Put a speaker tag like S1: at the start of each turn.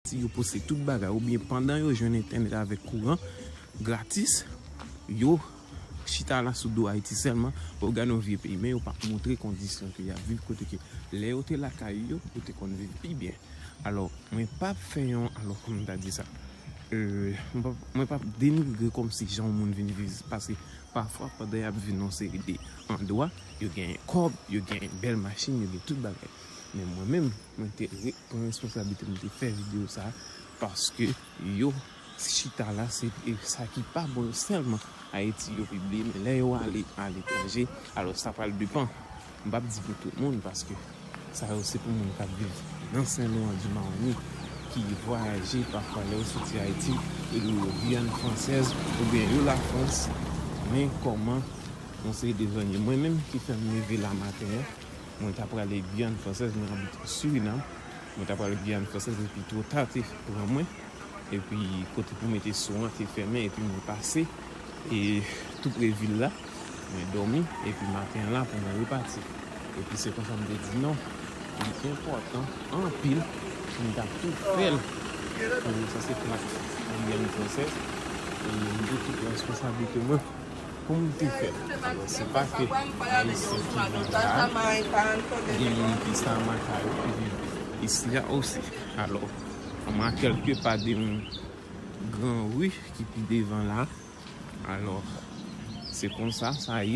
S1: Si yo poste tout bagay ou byen pandan yo jwenn entènèt avèk kouran gratis, yo Chita la sou do Ayiti sèlman, wap gade yon vye peyi men yo pap montre kondisyon ke yap viv kote ke lè yo te lakay yo, yo te konn viv pi byen. Alò mwen pap fè yon alò kòman ta di sa euh mwen pap denigre kòmsi jan yon moun vin viv paske pafwa pandan yap viv nan yon seri de andwa yo gen kòb, yo gen bèl machin, yo gen tout bagay men mwen menm. Mwen te pran responsabilite m te fè video sa paske yo chita la se sa ki pa bon yo selman Haïti yo pibliye men lè yo ale a letranje alos sa pral depan m pap di pou tout moun paske sa yo se pou moun kap viv nan Sen Loan di Maroni ki vwayaje pafwa lè yo soti Haïti yo dwe yo Guyane Française ou byen yo la France men koman yon seri de zòn yo mwen menm ki fèm leve la maten an. Mwen ta prale Guyane française mwen abite Surinam mwen ta prale Guyane française epi two ta te pran mwen epi kote pou mete sou an te fèmen epi mwen pase e tou pre vil la mwen domi epi maten an la pou mwen repati epi se konsa m te di non li enpòtan anpil pou m ta tou fèl pou sa se plak Guyane française e m te tou pran responsablite mwen. Pou m te fè l. Alò se pa ke Ayisyen ki viv la a, gen moun ki Samarkand yo ki viv isi a osi. Alò, kòm a kèlke pa de yon gran ri ki pi devan la, alò se konsa sa ye.